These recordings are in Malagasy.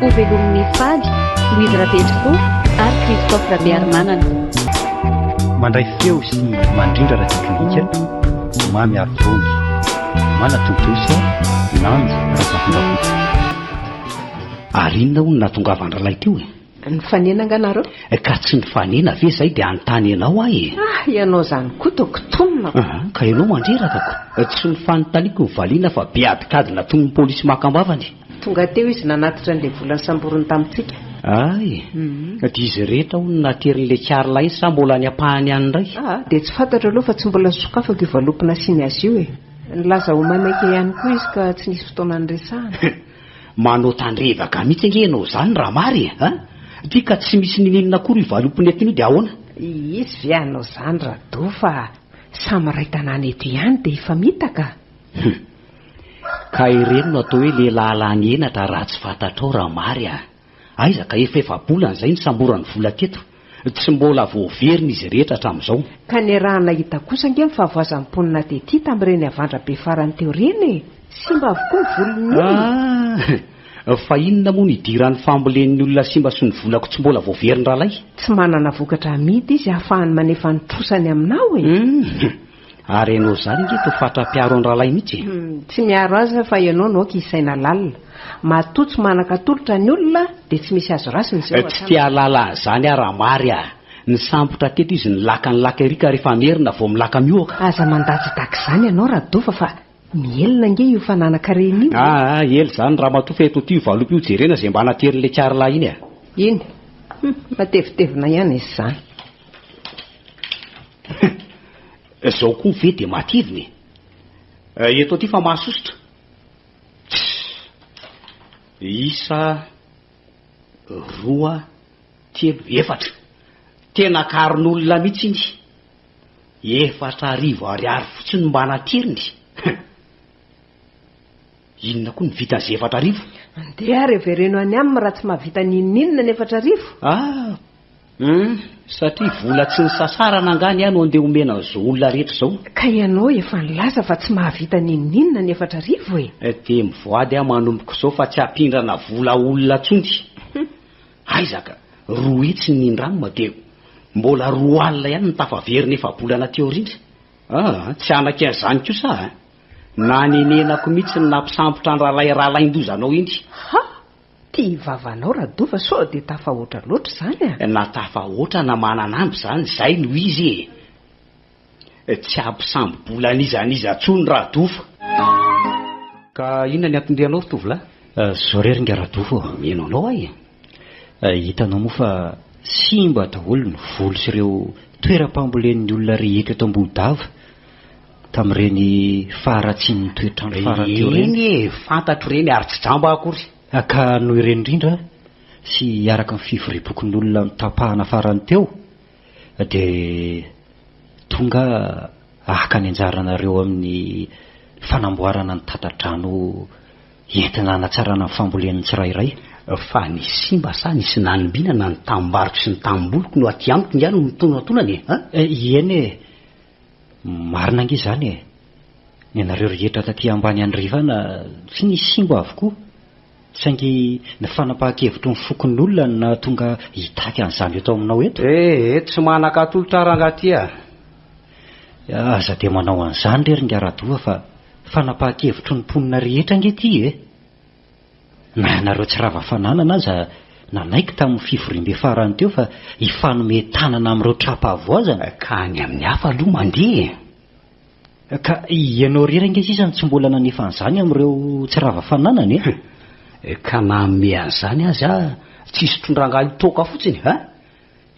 Ho velomin'ny fady, Louise Rabetofo ary Christophe Rabearimanana. Mandray feo sy mandrindra ara-teknika, Mamy Arivony. Manatontosa, Nanja Razafindrakoto. Ary inona hono nahatongavan-drahalahy teo e? Nifanena angaha nareo? Ka tsy nifanena ve zay dia hanontany anao aho e? Ah, ianao zany koa toa kitonina. Ah, ka ianao mandreraka ko. Tsy ny fanontaniako no valiana fa be adikadina toy ny polisy maka am-bavany. Tonga teo izy nanatitra an'ilay vola nisamboriny tamintsika. Ay! Dia izy rehetra hono no naterin'ilay Karla iny sa mbola any ampahany any indray? Ah, dia tsy fantatro aloha fa tsy mbola nosokafako io valopy nasiany azy io e! Nilaza ho maimaika ihany koa izy ka tsy nisy fotoana niresahana. Manao tandrevaka mihitsy ange ianao izany Ramary e! An! Dia ka tsy misy nininona akory io valopy nentiny io dia ahoana? Hisy ve hanao izany Rado fa samy iray tanàna eto ihany dia hifamitaka? Hum. Ka ireny no atao hoe lehilahy lany henatra raha tsy fantatrao Ramary a! Aiza ka efa efa-bolana izay nisamboran'ny vola teto. Tsy mbola voaverina izy rehetra hatramin'izao. Ka niarahana hita kosa ange ny fahavoazan'ny mponina tety tamin'ireny havandra be farany teo ireny e! Simba avokoa ny volon'ny olona. Ah! Fa inona moa no idiran'ny fambolen'ny olona simba sy ny volako tsy mbola voaveriny ralay? Tsy manana vokatra hamidy izy ahafahany manefa ny trosany aminao e! Hum. Ary enao izany nge to fatra mpiaro an rahalahy mitsy e! Tsy miaro azy aho fa ianao no aoka hisaina lalina. Matoa tsy manan-katolotra ny olona dia tsy misy azo raisina izay ho hatrany. Tsy te hahalala an'izany aho raha mary ah! Nisambotra teto izy nilaka nilaka ery ka rehefa merina vao milaka mihoaka. Aza mandatsadax izany ianao Radova fa Mihelina ange io fananan-karena io e! Aa ela izany ramatoa fa eto ity valopy io jerena izay mba hanaterin'ilay carla iny a! Iny? Hum, matevitevina ihany izy izany. Izao koa ve dia matevina e! Eh, eto aty fa mahasosotra. Tssy! Isa, roa, telo, efatra. Tena akarin'olona mihitsy iny. Efatra arivo ariary fotsiny mba natiriny. Hum. Inona koa no vitan'ny ze efatra arivo? Andeha ary avereno any aminy raha tsy mahavita n'inon'inona ny efatra arivo. Ah! Hum, satria vola tsy nisasarana angaha ny ahy no andeha omena an'izao olona rehetra izao? Ka ianao efa nilaza fa tsy mahavita n'inon'inona ny efatra arivo e! Dia mivoady aho manomboka izao fa tsy hampindrana vola olona intsony. Hum. Aiza ka! roa hitsy ny nindramina dia mbola roa alina ihany no tafaverina efa-bolana teo aoriana. Ah! tsy hanaky an'izany kosa aho eh! Nanenenako mihitsy ny nampisambotra an'i Ralay Ralaindoza anao iny. Ha! tia vavanao Radova sao dia tafahoatra loatra izany ah! Na tafahoatra na mananambo izany izay no izy eh! Tsy hampisambo bola an'iza an'iza tsony Radofo. Ka inona ny atindrianao ry tovolahy? Zao re ringa Radofo ô! Mino anao aho e! Hitanao moa fa simba daholo ny voly sy ireo toeram-pambolen'ny olona rehetra eto Ambohidava tamin'ireny faharatsian'ny toetr'andro farany teo ireny. Eny e! Fantatro ireny ary tsy jamba aho akory. Ka noho ireny indrindra sy araka ny fivoriam-pokon'olona notapahana farany teo, dia tonga haka ny anjaranareo amin'ny fanamboarana ny tata-drano entina hanatsarana ny fambolen'ny tsirairay. Fa ny simba sa ny tsy nanimbinana ny tamim-baroko sy ny tanimboliko no aty amiko ingahy no mitonatonana e! Eny e! Marina ange izany e! Ny anareo rehetra taty ambany andrefana tsy nisy simba avokoa, saingy ny fanapahan-kevitry ny fokonolona no nahatonga hitaky an'izany eto aminao eto. E! e! tsy manan-katolotra rangatia a! Aza dia manao an'izany re ry ngaradoa fa fanapahan-kevitry ny mponina rehetra ange ity e! Na ianareo tsy rava fananana aza nanaiky tamin'ny fivoriambe farany teo fa hifanome tanana amin'ireo tra-pahavoazana. Ka ny amin'ny hafa aloha mandeha e! Ka ianao irery ange sisa no tsy mbola nanefa an'izany amin'ireo tsy rava fananana e! Ka manome an'izany aza tsy sotron-drangahy ho toaka fotsiny a!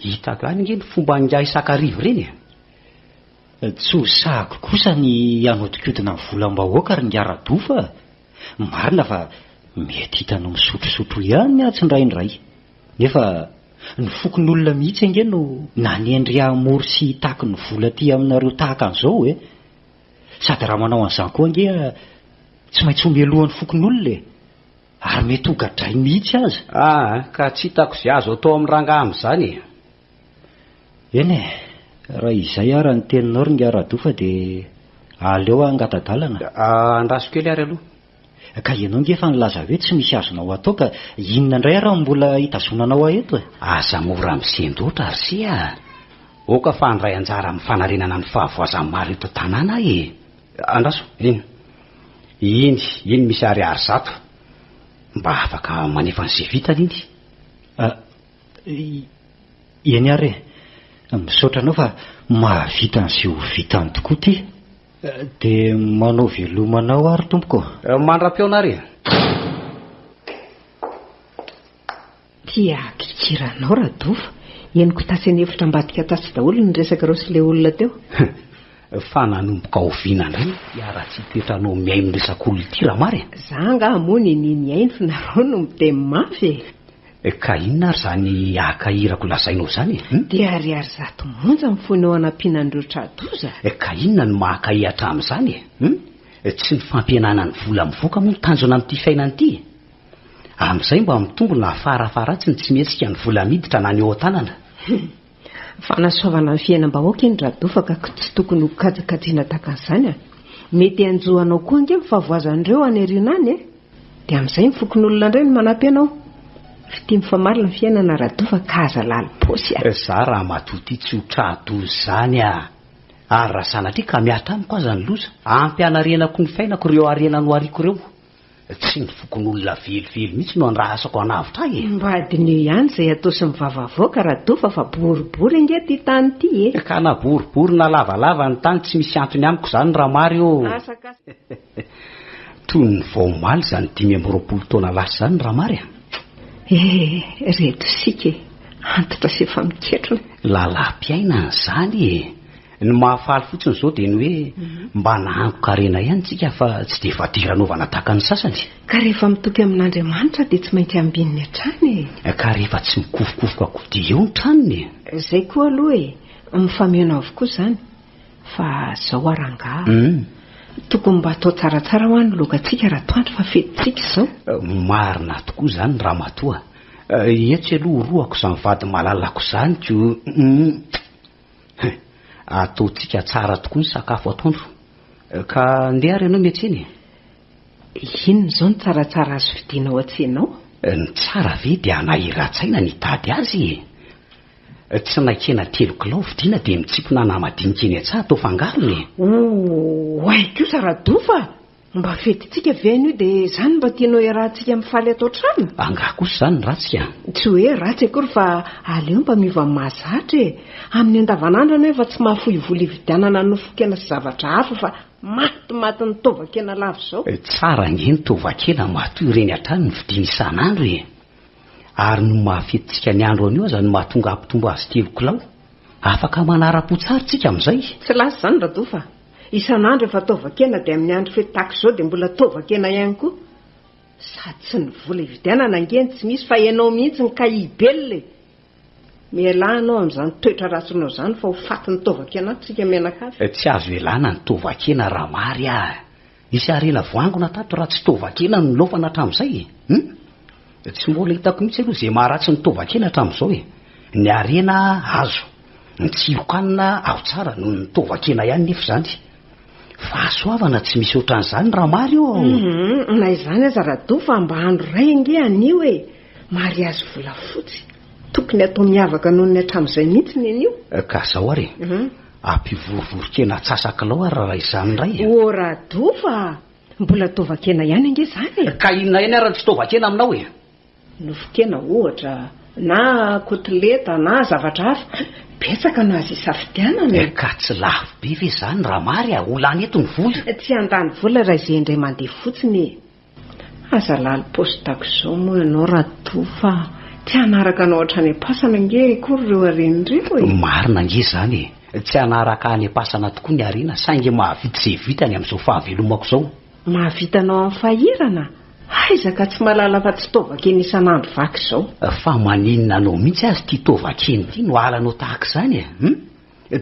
Hita avy any ange ny fomba angaha isan-kariva ireny e! Tsy ho sahako kosa ny hanodinkodina ny volam-bahoaka ry Ngara Dofa a! Marina fa mety hitanao misotrosotro ihany ny antsy indraindray, nefa ny fokonolona mihitsy ange no nanendry hamory sy hitaky ny vola aty aminareo tahaka an'izao e! Sady raha manao an'izany koa ange tsy maintsy ho melohan'ny fokonolona e! Ary mety ho gadrainy mihitsy aza. Aa ka tsy hitako izay azo atao amin'ny rangahy amin'izany e! Eny e, raha izay ara ny teninao ry Ngah Rado fa dia aleo hangatadalana. Andraso kely ary aloha. Ka ianao nge efa nilaza hoe tsy misy azonao atao ka inona indray ara no mbola hitazonanao ahy eto e? Aza mora misendoatra ry se a! Oka fa handray anjara amin'ny fanarenana ny fahavoazan'ny maro eto an-tanàna aho e! Andraso, eny, eny, eny misy ariary zato mba afaka manefa an'izay vitany iny. Eny ary e! Misaotra anao fa mahavita an'izay ho vitany tokoa ity. Dia manao veloma anao ary tompoko. Mandra-peo nary e! Tia pikira anao Rado fa henoko tase nefitra ambadika tasy daholo ny resakareo sy ilay olona teo. Fa nanomboka oviana indray ny fiaratsihy toetranao mihaino resak'olona ity Ramary e? Za angaha moa niniany hihaino fa nareo no miteny mafy e! Ka inona ary izany haka irako lazainao izany e? Hum? Dia ariary zato monja ny foinao hanampian'an'ireo tra-doza? Ka inona no mahakay hatramin'izany e? Hum? Tsy ny fampihenana ny vola mivoaka moa no tanjona amin'ity fiainana ity e? Amin'izay mba mitombo na fara faharatsiny tsy mihetsika ny vola miditra na ny eo an-tanana. Hum! Fanasoavana ny fiainam-bahoaka iny Radofa ka tsy tokony ho kajikajina tahaka an'izany a! Mety hanjo anao koa ange ny fahavoazan'ireo any aoriana any e! Dia amin'izay ny fokonolona indray no manampy anao! Fitia mifamarina ny fiainana Radofa ka aza lalim-paosy a! Za ramatoa ity tsy ho tra-doza izany a! Ary raha sanatria ka miha tamiko aza ny loza, ampianarenako ny fiainako ireo harena nohariako ireo. Tsy ny fokonolona velively mihitsy no andrahasako hanavotra ahy e! Mba adinio ihany izay atao sy mivava avoaka Radofa fa boribory ange ty tany ity e! Ka na boribory na lavalava ny tany tsy misy antony amiko izany Ramary ô! Toy ny vao omaly izany dimy amby roapolo taona lasa izany Ramary a! Eh reto isika e! Antitra sy efa miketrona e! Lalam-piainana izany e! Ny mahafaly fotsiny izao dia ny hoe mba nahangon-karena ihany tsika fa tsy dia fadira anaovana tahaka ny sasany. Ka rehefa mitopy amin'Andriamanitra dia tsy maintsy ambininy hatrany e! Ka rehefa tsy mikofokofoka koa dia eo ny tranony e! Izay koa aloha e! Mifameno avokoa izany. Fa izao ary angaha. Hum. Tokony mba atao tsaratsara hoa ny logantsika raha toa andry fa fetintsika izao. Marina tokoa izany ramatoa. Etsy aloha orohako izany vady malalako izany ko. Hum. Hein! Ataontsika tsara tokoa ny sakafo atoandro. Ka ndeha ary ianao miatsena e! Inona izao no tsaratsara azo vidiana ao an-tsena ao? Ny tsara ve dia hanahiran-tsaina ny hitady azy e! Tsinaikena telo kilao vidiana dia mitsipona ana madinika eny an-tsaha atao fangarony e! Oay kosa Radofa! Mba fetintsika ve an'io dia izany mba tianao hiarahantsika mifaly ato an-trano? Angaha kosa izany ratsy ka? Tsy hoe ratsy akory fa aleo mba miova amin'ny mahazatra e! Amin'ny andavanandro ianao efa tsy mahafoy vola hividianana nofon-kena sy zavatra hafa fa maty maty ny tovan-kena lava izao. Tsara ange ny tovan-kena matoa ireny hatrany no vidiana isan'andro e! Ary noho ny maha fetintsika ny andro anio aza no mahatonga hampitombo azy telo kilao. Afaka manara-po tsara isika amin'izay. Tsy lasa izany Rado fa Isan'andro efa taovan-kena dia amin'ny andro fety tahaka izao dia mbola taovan-kena ihany koa? Sady tsy ny vola ividianana ange no tsy misy fa ianao mihitsy no kay hibelona e! Mialà ianao amin'izany toetra ratsinao izany fa ho fatin'ny taovan-kenantsika mianakavy. Tsy azo ialana ny tovan-kena raha mary ah! Nisy harena voangona tato raha tsy tovan-kena no nilaofana hatramin'izay e! Hum! Tsy mbola hitako mihitsy aloha izay maharatsy ny tovan-kena hatramin'izao e! Ny harena azo, ny tsiron-kanina ao tsara noho ny tovan-kena ihany nefa izany. Fahasoavana tsy misy ohatran'izany raha mary ô! Hum! Na izany aza Rado fa mba andro iray ange anio e! Mariazy volafotsy! Tokony hatao miavaka noho ny hatramin'izay mihitsy ny anio! Ka izao ary e! Ampivorivoron-kena atsasak'lao ary raha izany indray e! Ô Rado fa mbola tovan-kena ihany ange izany e! Ka inona ihany ary no tsy tovan-kena aminao e? Nofon-kena ohatra, na kotileta na zavatra hafa, betsaka no azo isafidianana e! Ka tsy lafo be ve izany raha mary a? Ho lany eto ny vola? Tsy handany vola raha izay indray mandeha fotsiny e! Aza lalo postako izao moa ianao Rado fa tsy hanaraka anao hatrany am-pasana ange akory ireo harena ireo e! Marina ange izany e! Tsy hanaraka any am-pasana tokoa ny harena saingy mahavita izay vitany amin'izao fahavelomako izao. Mahavita anao amin'ny fahirana? Aiza ka tsy mahalala fa tsy taovan-kena isan'andro vaky izao. Fa maninona anao mihitsy ary ity taovan-kena ity no halanao tahaka izany e? Hum?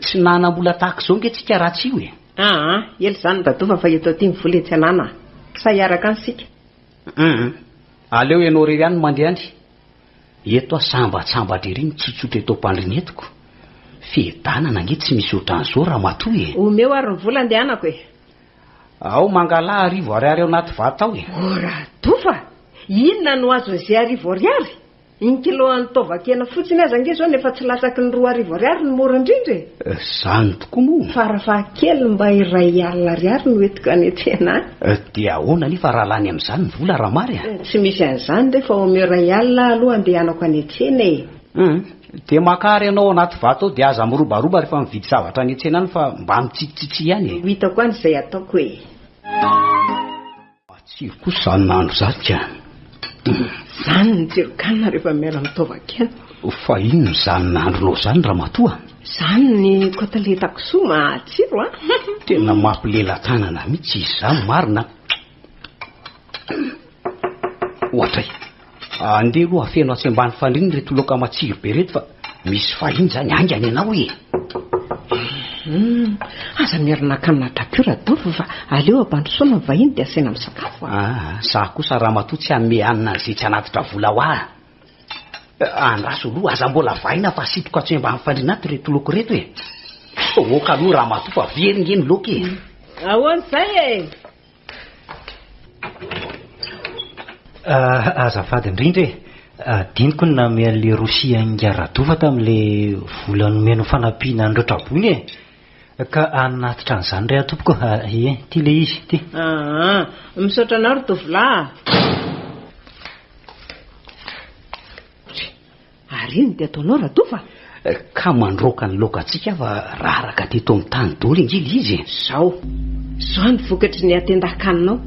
Tsy nanam-bola tahaka izao ange tsika raha tsy io e! Aa! ela izany dadova fa eto aty ny vola etsy anana a! Sa hiaraka any sika? Hum! aleo ianao irery any no mandehany! eto aho sambatsambatra ery mitsotsotra eto am-pandriana eto ko! fiadanana ange tsy misy ohatran'izao ramatoa e! Omeo ary ny vola andehanako e! Ao mangalaha arivo ariary ao anaty vata ao e! Oh! radova! inona no azon'izay arivo ariary? Iny kilo an'ny taovan-kena fotsiny aza ange izao no efa tsy latsaky ny roa arivo ariary ny mora indrindra e! Izany tokoa moa! Farafahakeliny mba iray alina ariary no entiko any an-tsena any. Dia ahoana anefa raha lany amin'izany ny vola raha mary a! Tsy misy an'izany re fa omeo iray alina aho aloha handehanako any an-tsena e! Hum, dia makà ary ianao ao anaty vata ao dia aza mirobaroba rehefa mividy zavatra any an-tsena any fa mba mitsitsitsitsy ihany e! Ho hitako any izay ataoko e! Matsiro kosa izany nahandro izany ka! Izany ny tsiron-kanina rehefa miala amin'ny taovan-kena. Fa inona izany nahandronao izany ramatoa? Izany ny koteleta kisoa matsiro a! Tena mampilela-tanana mihitsy izany marina a! Ohatray! Andeha aloha afeno atsy ambany fandriana ireto loaka matsiro be ireto fa misy vahiny izany haingana ianao e! Aza miara nakanina drapiau Radolf fa aleo ampandrosoana ny vahiny dia asaina misakafo a! Ah, za kosa ramatoa tsy hanome hanina an'izay tsy hanatitra vola ho ahy. Andraso aloha, aza mbola vahina fa asitriko atsy ambany fandriana ato ireto loaka ireto e! Aoka aloha ramatoa fa very nge ny loaka e! Ahoana izay e! Azafady indrindra e! Adinoko ny nanome an'ilay Rossy Inga Radofa tamin'ilay vola nomeny ho fanampiana an'ireo traboina e! Ka hanatitra an'izany re aho tompoko a! Ie, ity ilay izy, ity. Aa! Misaotra anao ry tovolahy a! Ary ino dia ataonao Ratofa? Ka mandroaka ny laokantsika aho fa raraka teto amin'ny tany daholo ange ilay izy e! Zao, zao ny vokatry ny hatendan-kaninao.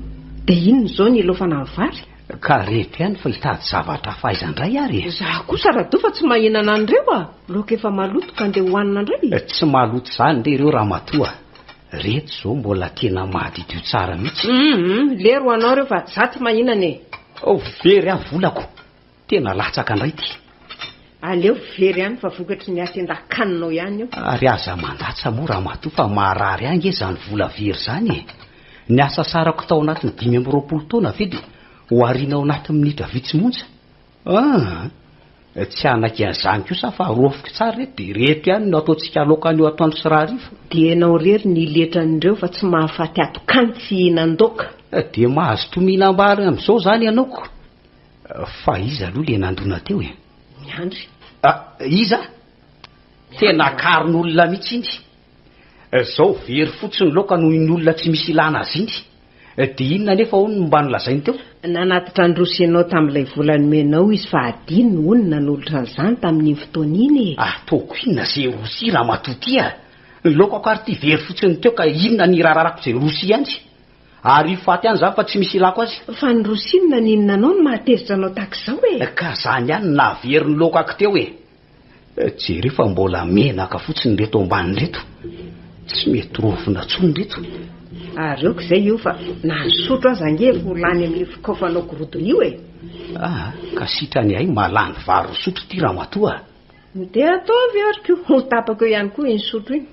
Dia inona izao ny hilaofana ny vary? Ka reto ihany fa hitady zavatra hafa aiza indray ary e! Za kosa Ratofa tsy mahinana an'ireo a! Laoka efa maloto ka ndeha hohanina indray e! Tsy maloto izany re ireo Ramatoa a! Reto izao mbola tena madiodio tsara mihitsy. Hum, hum, lery ho anao ireo fa za tsy mahinana e! Ao very aho volako! Tena latsaka ndray ty. Aleo very any fa vokatry ny hatendan-kaninao ihany io. Ary aza mandatsa moa ramatoa fa maharary ahy nge zany vola very zany e! Ny asa sarako tao anatin'ny dimy amby roapolo taona ve dia ho ariana ao anatin'ny minitra vitsy monja? Aa! Tsy hanaiky an'izany kosa aho fa rofiky tsara ireto dia ireto ihany no ataontsika aloka anio atoandro sy rahariva. Dia ianao irery ny iletra an'ireo fa tsy mahafaty ato-kany tsy hihinan-doaka. Dia mahazo toa mihinam-bary amin'izao izany ianao ko! Fa iza aloha le nandona teo e? Miandry. Ah, iza? Tena akarin'olona mihitsy iny. Zao very fotsiny loka noho iny olona tsy misy ilana azy iny. De inona anefa hono no mba nolazainy teo? Nanatitra handroso ianao tamin'ilay vola nomenao izy fa adinony hono ny nanolotra an'izany tamin'iny fotoana iny e! Ataoko inona ze rosia ramatoa ty a! Ny lokako ary ty very fotsiny teo ka inona ny hiraharahako ze rosia ihany? Ary io faty any zany fa tsy misy ilako azy. Fa ny rosiny naninona anao no mahatezitra anao tahaka izao e? Ka zany ihany no nahavery ny loka aky teo e! Jereo fa mbola menaka fotsiny reto ambany reto. Tsy mety rovina tsony reto. Ary ok zay io fa na ny sotro aza ange efa ho lany amin'io fikaofanao gorodona io e! Aa ka sitrany ahy mahalany vary ry sotro ity ramatoa a! Dia ataovy ary ko ho tapako eo ihany koa iny sotro iny.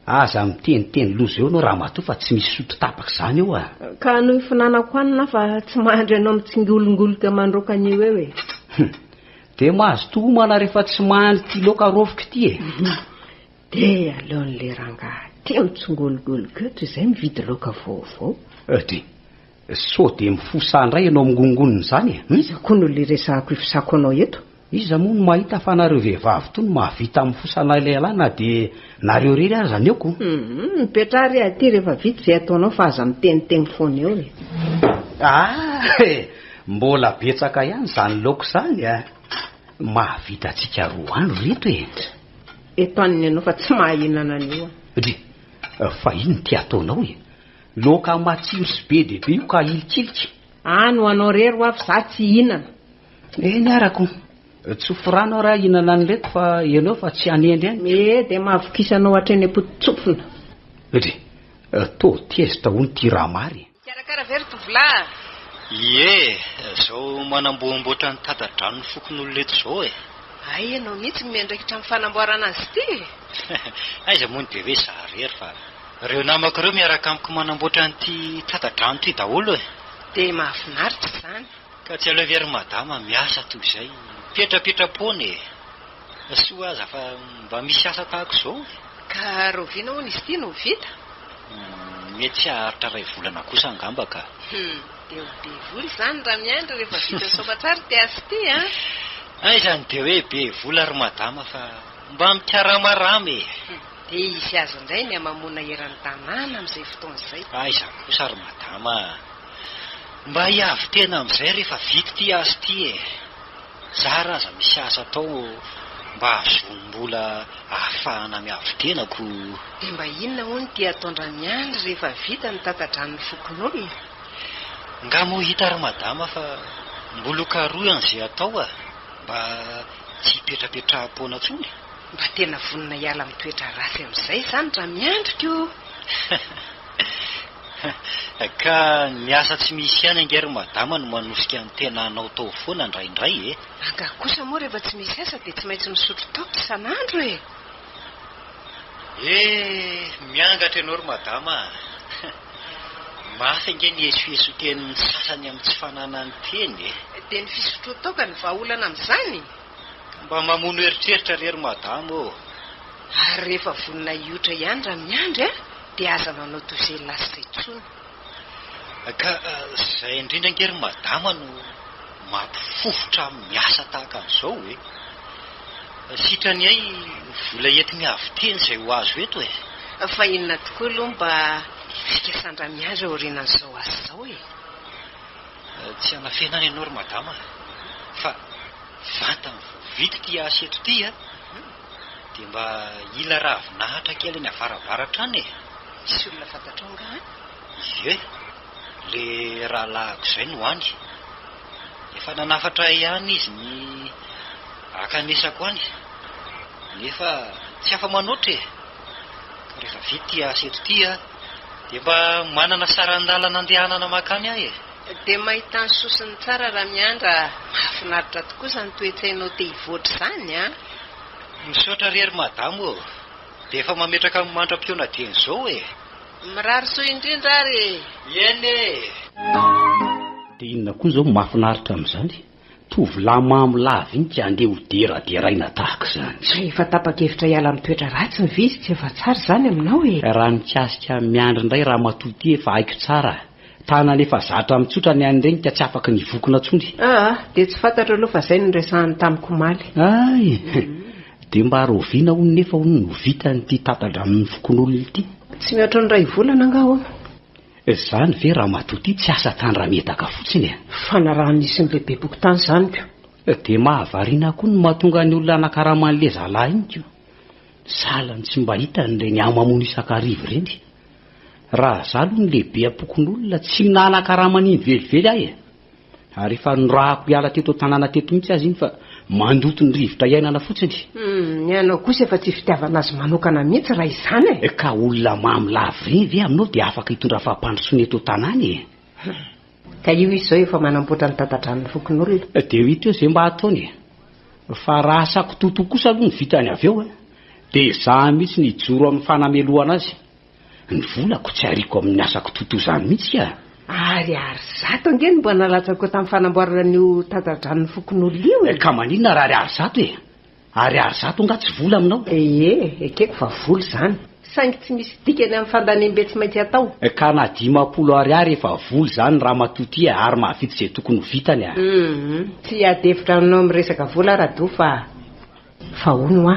Aza miteniteny loza eo anao ramatoa fa tsy misy sotro tapaka izany eo a! Ka anio ifinanako any na fa tsy mahandry anao mitsingolongoloka mandroaka anio eo e! Hum! Dia mazotoa homana rehefa tsy mahandry ity laoka raofiko ity e! Dia aleon'ilay rangahy tia mitsingolongoloka eo toy izay mividy laoka vaovao. Dry! Sao dia mifosa indray ianao mingongona izany e? Hum? Iza koa no le resahako ifosako anao eto? Iza moa no mahita fa nareo vehivavy toa no mahavita mifosa anay lehilahy na dia nareo irery aza ny aoko? Hum, mipetraha re aty rehefa vita izay ataonao fa aza miteniteny foana eo e! Ah eh! Mbola betsaka ihany izany laoka izany a! Mahavita antsika roa andro ry reto e! Eto anona ianao fa tsy mahahinana an'io aho. Dry, fa ino ity ataonao e? Laoka matsiro sy be dia be io ka ilikilika. Any ho anao rery ho'aho fa za tsy hihinana. Eny arako. Tsofy rano ary aho hihinana an'ireto fa ianao fa tsy hanendry any. Ee dia mahavokisa anao hatreny am-poto-tsofina. Dry, toa tezitra hono ity Ramary e. Mikarakara ve ry tovolahy? Ie, zao manamboamboatra ny tata-dranon'ny fokonolona eto zao e. Hay ianao mihitsy no miandraikitra amin'ny fanamboarana azy ity e. Aiza moa ny be hoe za rery fa. Reo namako reo miaraka amiko manamboatra an'ity tsata-drano ity daholo e! Dia mahafinaritra izany! Ka tsy aleovy ry madama miasa toy izay, mipetrapetra-poana e! Soa aza fa mba misy asa tahako izao e! Ka rahoviana hono izy ity no ho vita? Hum, mety tsy haharitra iray volana kosa angamba ka! Hum, dia ho be vola izany raha miandry rehefa vita soa aman-tsara ity asa ity an! Aiza no dia hoe be vola ry madama fa mba mikaramarama e! Dia hisy azy indray ny hamamoana eran'ny tanàna amin'izay fotoana izay. Aiza kosa ry madama a! Mba hiavy tena amin'izay rehefa vita ity asa ity e! Zara aza misy asa atao mba hahazoam-bola hahafahana miavy tena ko! Dia mba inona hono ity ataon-dRamiandry rehefa vita ny tata-dranon'ny fokonolona? Nga moa hita ry madama fa mbola ho karohina izay atao a! Mba tsy hipetrapetraham-poana intsony? Mba tena vonona hiala amin'ny toetra ratsy amin'izay izany raha miandry ko! Ka ny asa tsy misy ihany ange ry madama no manosika ny tena anao tao foana indraindray e! Angaha kosa moa rehefa tsy misy asa dia tsy maintsy misotro toaka isan'andro e! Eh! Miangatra ianao ry madama a! Mafy ange ny esoeson-tenin'ny sasany amin'ny tsy fananany teny e! Dia ny fisotroan-toaka no vahaolana amin'izany? Mba mamono eritreritra re ry madama ô! Ary rehefa vonona hiotra ihany raha miandry an, dia aza manao toy izay lasitra intsony. Ka izay indrindra ange ry madama no mampifofotra amin'ny asa tahaka an'izao e! Sitrany hay vola entiny avy teny izay ho azo eto e! Fa inona tokoa aloha mba fikasan-dRamiandry aorianan'izao asa izao e? Tsy hanafenana ianao ry madama fa vatany vao vita ity asa eto ity a! dia mba hila ravinahitra kely any avaravaratra any e! Misy olona fantatrao angaha any? Ie, le rahalahiko izay no any. Efa nanafatra ahy ihany izy ny hakanesako any, nefa tsy afa-manoatra e! Rehefa vita ity asa eto ity an, dia mba manana saran-dalana andehanana makany ahy e! Dia mahita ny sosiny tsara Ramiandra a! Mahafinaritra tokoa izany toe-tsainao te hivoatra izany an! Misaotra re ry Madamo ô! Dia efa mametraka ny mandra-pihaona dieny izao e! Mirary soa indrindra ary e! Eny e! Dia inona koa izao mahafinaritra amin'izany? Tovolahy mamo lahy vintsy andeha ho deraderaina tahaka izany. Raha efa tapa-kevitra hiala amin'ny toetra ratsy ny vizy tsy efa tsara izany aminao e! Raha mikasika an'i Miandry indray ramatoa ity efa haiko tsara tanana efa zatra mitsotra ny an'ireny ka tsy afaka ny hivokona tsony. Aa, dia tsy fantatro aloha fa izay no niresahany tamiko omaly. Hay! Dia mba rahoviana hono nefa hono no vitan'ity tata-dranon'ny fokonolona ity? Tsy mihoatra ny iray volana angaha hono. Zany ve ramatoa ty tsy asa tany raha miedaka fotsiny e. Fanarahany hisy ny lehibeboko tany zany ko. Dia mahavariana koa ny mahatonga ny olona hanakarama an'le zalahy iny ko. Sahala ny tsy mba hitany ireny hamamono isan-kariva ireny. Raha za aloha ny lehibe ampokon'olona tsy minahanakarama an'iny velively aho e. Ary efa norahako hiala teto an-tanàna teto mihitsy aza iny fa mandoto ny rivotra iainana fotsiny. Humm, ny anao kosa efa tsy fitiavana azy manokana mihitsy raha izany e! Ka olona mamy lavoreny ve aminao dia afaka hitondra fampandrosoana eto an-tanàna e? Humm, ka io izy izao efa manamboatra ny tata-dranon'ny fokonolona. Dia ho hita eo izay mba hataony e! Fa raha asako toto kosa aloha ny vitany avy eo dia izaho mihitsy no hijoro amin'ny fanamelohana azy. Ny volako tsy ariako amin'ny asako toto'izany mihitsy ka! Ary Ary zato ange no mba nalatsako tamin'ny fanamboarana an'io tata-dranon'ny fokonolona io e! Ka maninona ary Ary Ary zato e? Ary Ary zato angaha tsy vola aminao? Ee, ekeko fa vola izany. Saingy tsy misy dikany amin'ny fandanem-be tsy maintsy atao. Ka na dimampolo Ary Ary efa vola izany ramatoa ity e! Ary mahavita izay tokony ho vitany a! Humm, tsy hiady hevitra aminao amin'ny resaka vola aho Rado fa. Fa hono hoa,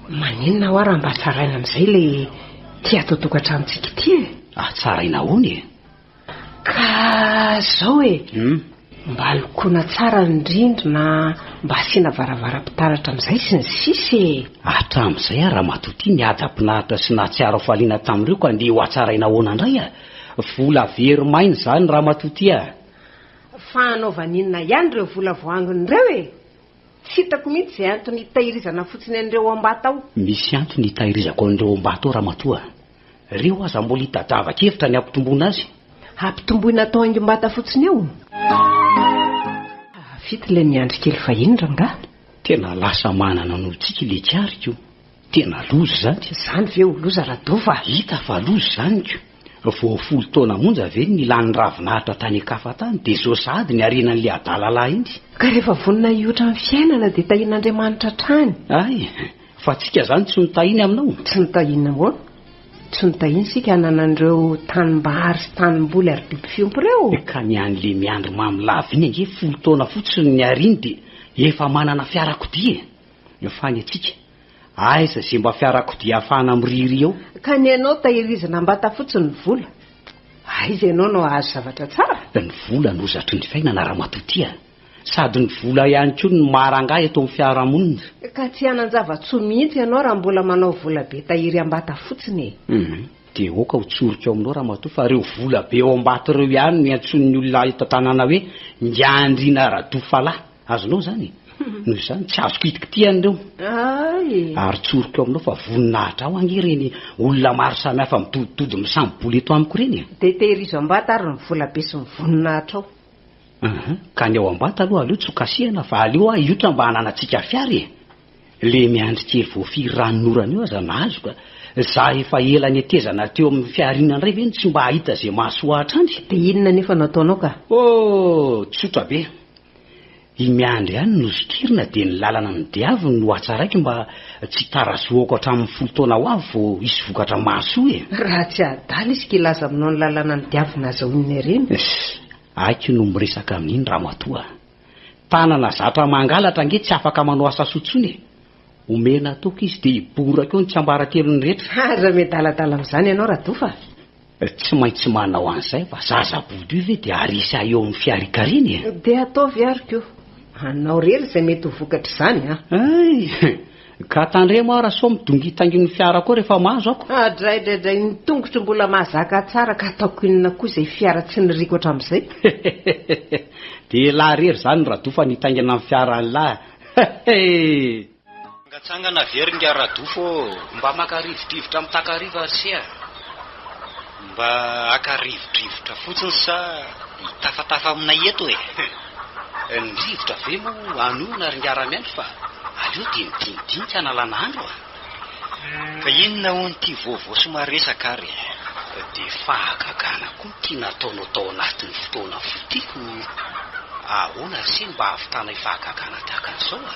maninona hoa raha mba tsaraina amin'izay ilay ity hatao tokantranontsika ity e? Ah, tsaraina ahoana e? Ka izao e, mba lokoina tsara ny rindrina, mba asiana varavaram-pitaratra amin'izay sy ny sisa e! Hatramin'izay ary ramatoa ity nihaja mpinaritra sy nahatsiaro hafaliana tamin'ireo ka andeha hohatsaraina ahoana indray a! Vola very maina izany ramatoa ity a! Fa hanaovana inona ihany ireo vola voaangona ireo e? Tsy hitako mihitsy izay antony hitahirizana fotsiny an'ireo Ambata ao. Misy antony hitahirizako an'ireo Ambata ao Ramatoa a! Reo aza mbola hitadiava kevitra ny hampitomboina azy. Hampitomboina atao haingom-bata fotsiny eo? Hahavita ilay miandry kely fahiny rangahy. Tena lasa manana anao tsiky le kariko. Tena loza izany. Izany ve ho loza Radova a? Hita fa loza izany ko! Vao folo taona monja ve ny lany ravin'ahitra tany an-kafa tany dia izao sahady ny harenan'ilay adala lahy iny. Ka rehefa vonona hihoatra ny fiainana dia tahian'Andriamanitra hatrany. Hay! Fa antsika izany tsy notahiny aminao? Tsy notahina ahoana? Tsy notahiny isika hanana an'ireo tanimbary sy tanimboly ary biby fiompy ireo? Ka ny an'ilay miandry mamy lava iny ange folo taona fotsiny niariny dia efa manana fiarakodia e! Ny fany atsika. Aiza ze mba fiarakodia afahana mirihirihy eo? Ka ny anao tahirizina ambata fotsiny ny vola? Aiza ianao no ahazo zavatra tsara? Ny vola no hozatry ny fiainana ramatoa ty a! Sady ny vola ihany koa no maha rangahy eto amin'ny fiarahamonina. Ka tsy hanan-java-tsoa mihitsy ianao raha mbola manao vola be tahiry ambata fotsiny e! Humm! Dia aoka ho tsoriko aminao ramatoa fa ireo vola be ao ambata ireo ihany no iantsoan'ny olona eto an-tanàna hoe Ndriandriana Radofalahy. Azonao izany e! Noho izany, tsy azoko hitikitiha an'ireo. Ary tsoriko aminao fa voninahitra aho ange ireny olona maro samihafa midodidody misamboboly eto amiko ireny e! Dia tehirizo am-bata ary ny volabe sy ny voninahitrao. Ka ny ao am-bata aloha aleo tsy hokasihana fa aleo aho hiotra mba hananantsika fiara e! Le miandry kely voafiry ranonorana io aza nahazo ka! Za efa ela netezana teo amin'ny fihariana indray ve no tsy mba hahita ze mahasoa hatrany? De inona nefa no ataonao ka? Oh! Tsotra be! I miandry ihany no zokirina de ny lalana ny diaviny no hatsaraiko mba tsy hitarazohako hatramin'ny folo taona ho avy vao hisy vokatra mahasoa e! Raha tsy adala izy ka hilaza aminao ny lalana ny diaviny aza hoy ny harena. Aiko no miresaka amin'iny ramatoa a! Tanana zatra mangalatra ange tsy afaka manao asa soa tsony e! Omena toky izy dia hiboraka eo ny tsiambaratelony rehetra. Aza miadaladala amin'izany ianao Rado fa. Tsy maintsy manao an'izay fa zaza bodoy ve dia harisy ahy eo amin'ny fiarikariny e! Dia ataovy ary koa. Anao rery izay mety ho vokatr'izany an! Ay! Ka tandremo aho raha sao midongintangin'ny fiara koa rehefa mahazo aho ko. Adraidraidray ny tongotro mbola mahazaka tsara ka ataoko inona koa izay fiara tsy niriko hatramin'izay. Dia elah rery izany Rado fa nitaingina ny fiaran'lah ee. Mangatsangana very nga Rado fô. Mba maka rivodrivotra mitakariva ry se a. Mba haka rivodrivotra fotsiny sa hitafatafa aminay eto e? Ny rivotra ve moa hanohina ry ngaramiandry fa aleo dia midinidinika hanalana andro a! Ka inona hono ity vaovao sy maresaka ary e? Dia fahagagana koa ity nataonao tao anatin'ny fotoana fotiako, ahoana ry se ny mba hahavitanay fahagagana tahaka an'izao a?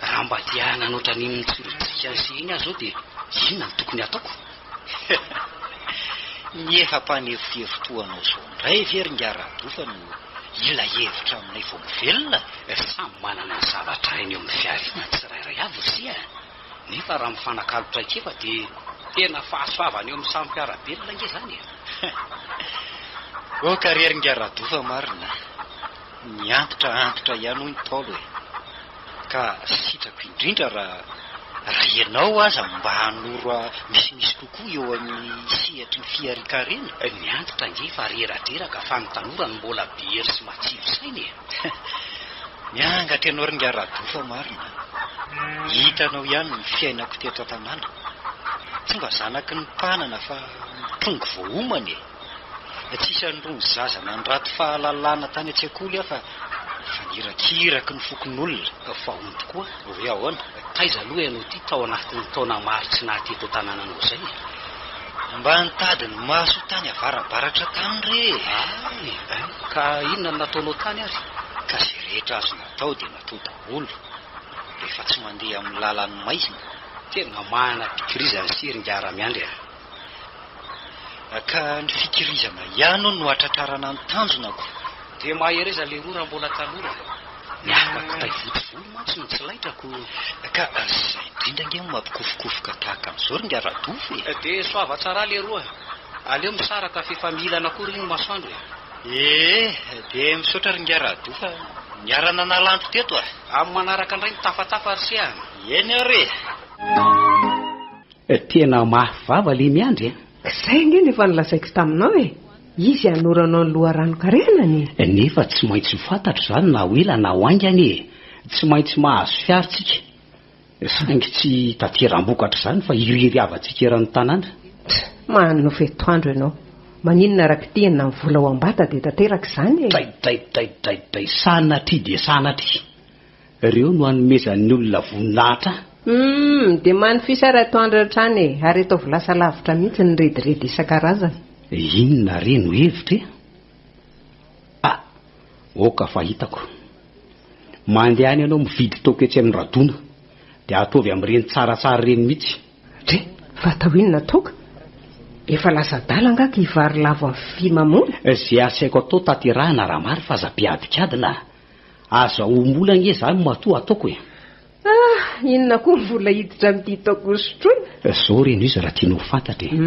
Raha mba te hanana ohatran'iny mitsirijika an'ise iny aho izao dia inona no tokony hataoko? Ny efa mpanefohefo toa anao izao indray ve ry ingahy Radofa no hila hevitra aminay vao mivelona? Samy manana ny zavatra hainy eo amin'ny fihariana ny tsirairay avy ry se a! Nefa raha mifanakalo traikefa dia tena fahasoavana eo amin'ny samy mpiara-belona ange izany e! Oka re ry ingahy Radofa marina a! Miantitra antitra ihany hoy ny Ntaolo e! Ka sitrako indrindra raha raha ianao aza mba hanoro misimisy kokoa eo amin'ny sehatry ny fiharikarena. Miantitra ange fa reradreraka fa ny tanora no mbola be hery sy matsilo saina e! Miangatra ianao ry Ingahy Rado fa marina an! Hitanao ihany ny fiainako teto an-tanàna. Tsy mba zanaky ny mpanana fa mpongo voaomana e! Tsy isan'irony zaza nandrato fahalalana tany an-tsekoly aho fa efa nirakiraky ny fokonolona ka fahony tokoa. Hoe ahoana? Taiza aloha ianao ity tao anatin'ny taona maro tsy naha teto an-tanànanao izay e? Mba nitady ny maso tany avarabaratra tany re e! Hay! Ka inona no nataonao tany ary? Ka izay rehetra azo natao dia natao daholo. Rehefa tsy mandeha amin'ny lalan'ny maizina. Tena manam-pikirizana sy herin-jara miandry aho. Ka ny fikirizana ihany hono no hatratrarana ny tanjona ko. Dia mahereza leroa raha mbola tanora e. Ny afaka kitay votovolo mantsy no tsy laitra ko. Ka zay indrindra ange no mampikofokofoka tahaka an'izao ry ngah Radofy e. Dia soava tsara leroa. Aleo misaraka fa efa miilana koa ry ny masoandro e. Ee, dia misaotra ry ngah Radofy a. Niara-nanala anto teto a. Amin'ny manaraka indray mitafatafa ry se a. Eny ary e. Tena mafy vava le miandry a! Zay ange no efa nolazaiko taminao e! Izy hanoro anao ny loharanon-karena ny. Nefa tsy maintsy ho fantatro izany na ho ela na ho haingana e! Tsy maintsy mahazo fiary tsika! Saingy tsy hitateram-bokatra izany fa hiriry havantsika eran'ny tanàna. Tch! Manonofy atoandro ianao! Maninona raha kitihina ny vola ao am-bata dia tanteraka izany e! Dray dray dray dray dray! Sanatria dia sanatria! Reo no anomezan'ny olona voninahitra an! Humm dia manify ary atoandro hatrany e! Ary ataovy lasa lavitra mihitsy ny rediredy isan-karazany. Inona re no hevitra e? A! ok fa hitako. Mandehana ianao mividy toaka etsy amin'ny Radona dia ataovy amin'ireny tsaratsara ireny mihitsy. Dre! Fa atao inona toaka? Efa lasa adala angaha ka hivarilavo amin'ny fy mamola? Izay asaiko atao tanterahina raha marina fa aza ampiadikadina a! Aza ombola ange zany matoa ataoko e! Ah! Inona koa ny vola hiditra amin'ity taoko hosotroina? Zao reny izy raha tianao ho fantatra e!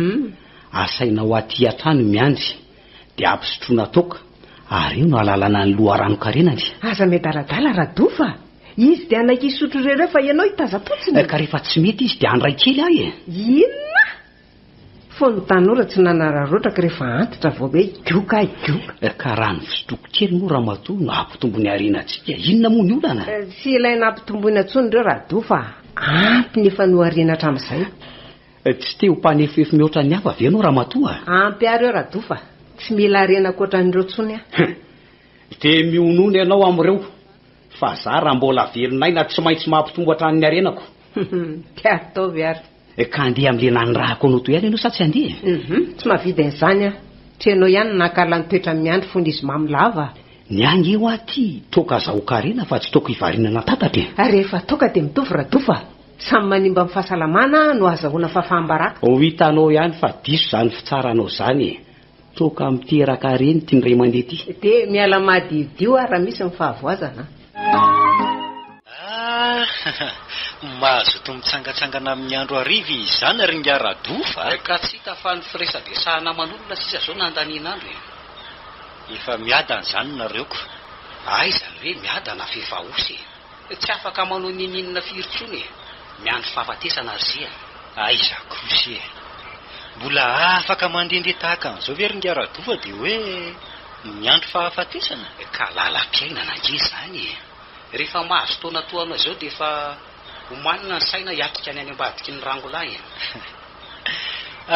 Asainao aty hatrany miandry dia ampisotroina taoka ary eo no alalana ny loharanon-karenany. Aza miadaladala Rado fa izy dia hanaiky hisotro ireo ireo fa ianao hitaza-potsiny e! Ka rehefa tsy mety izy dia handray kely ahy e! Inona? Fony ny tanora tsy nanararaotraka rehefa antitra vao hoe gioka ahy gioka. Ka raha ny fitsipiko kely moa ramatoa no hampitombo ny harenantsika, inona moa ny olana? Tsy ilaina hampitomboina intsony ireo Rado fa ampy ny efa nohariana hatramin'izay. Tsy te ho mpanefoefo mihoatra ny hafa ve ianao ramatoa? Ampy ary eo Rado fa tsy mila harena ankoatran'ireo intsony aho. Dia mihonona ianao amin'ireo fa za raha mbola velon'aina tsy maintsy mampitombo hatrany ny harenako. Te ataovy ary. Ka andeha amin'ilay nanirahako anao teo ihany ianao sa tsy handeha e? Hum, tsy mahavita izany aho. Tsy ianao ihany no nahakarila ny toetran'i Miandry fony izy mamy lava a! Ny ahy ange hoa ty, toaka azahoako harena fa tsy toaka hivarinana tatatra e! Ary rehefa toaka dia mitovy radofa a! Samy manimba ny fahasalamana no ahazahoana fahafaham-baraka. Ho hitanao ihany fa diso izany fitsaranao izany e! Toaka miteraka reny ty ndray mandeha ty. De miala madiodio ah raha misy ny fahavoazana an. Ah! Mazoto mitsangatsangana amin'ny andro hariva izy izany ry ingahy Radof a! Ka tsy hita fa ny firesadresahana aman'olona sisa zao no andanian'andro e! Efa miadana izany nareo ko! Aiza an'ireny miadana f'efa osa e! Tsy afaka manao ninininona firy tsony e! Miandry fahafatesana ry zia a! Aiza kosy e! Mbola afaka mandrendre tahaka an'izao ve ry nga Radoa dia hoe miandry fahafatesana? Ka lalam-piainana ange izany e! Rehefa mahazo taona toa anao izao dia efa omanina ny saina hiatrika ny any ambadiky ny rangolahy e!